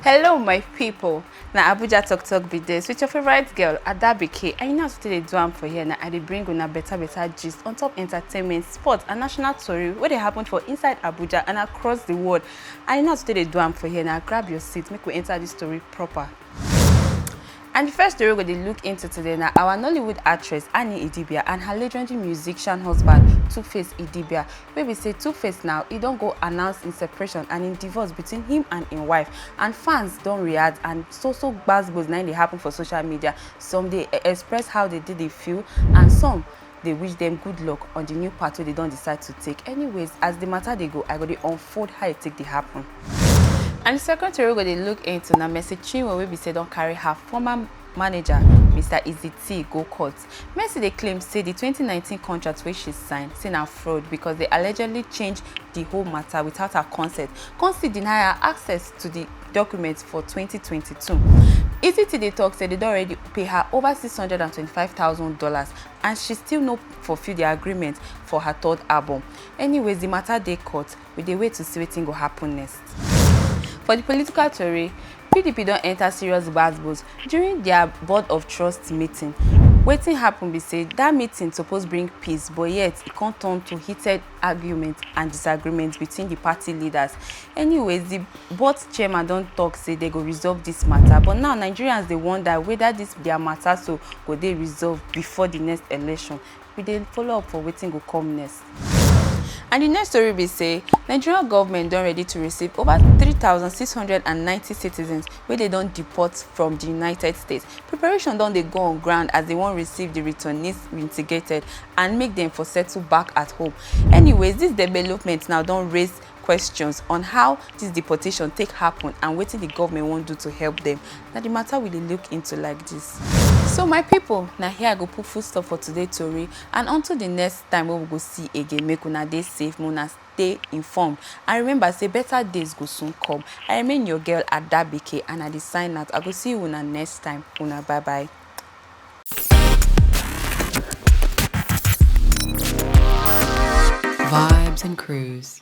hello my people Now abuja talk talk be this with your favorite girl adabike and you know as we dey do am for here Now i dey bring una better better gist on top entertainment sports and national story What they happen for inside abuja and across the world and you know as we dey do am for here Now grab your seat make we enter this story proper. And di first tori we go dey look into today na our Nollywood actress Annie Idibia and her legendary musician husband Tuface Idibia wey be say Tuface now e don go announce im separation and im divorce between him and im wife and fans don react and so so gbas gbos na im dey happen for social media some dey express how dey dey dey feel and some dey wish dem good luck on di new path wey dey don decide to take anyways as di matter dey go i go dey unfold how e take dey happen and di second tori go dey look into na mercy chinwo wey be say don carry her former manager mr iziti go court mercy dey claim say di 2019 contract wey she sign say na fraud because dey allegedly change di whole matter without her consent come still deny her access to di document for 2022 iziti dey tok say dey don already pay her over 625 thousand dollars and she still no fulfil di agreement for her third album anyways di mata dey court we dey wait to see wetin go happun next. For di political tori, pdp don enta serious gbas-gbos during dia board of trust meeting, wetin happun be say dat meeting suppose bring peace but yet e come turn to heated. argument and disagreement between the party leaders. Anyways, the board chairman don talk say they go resolve this matter. But now Nigerians they wonder whether this their matter so go they resolve before the next election. We then follow up for waiting go come next. And the next story be say Nigerian government don ready to receive over 3,690 citizens wey dem don deport from di united states preparation don dey go on ground as dem wan receive di returnees reintegrated and make dem for settle back at home anyways dis development now don raise questions on how dis deportation take happen and wetin di government wan do to help dem na di matter we dey look into like dis so my pipo na here i go put full stop for today tori and until di next time wey we go see again make una dey safe make una stay informed and remember say better days go soon come i remain your girl adabike and i dey sign out i go see you una next time una bye bye Vibes and Cruise.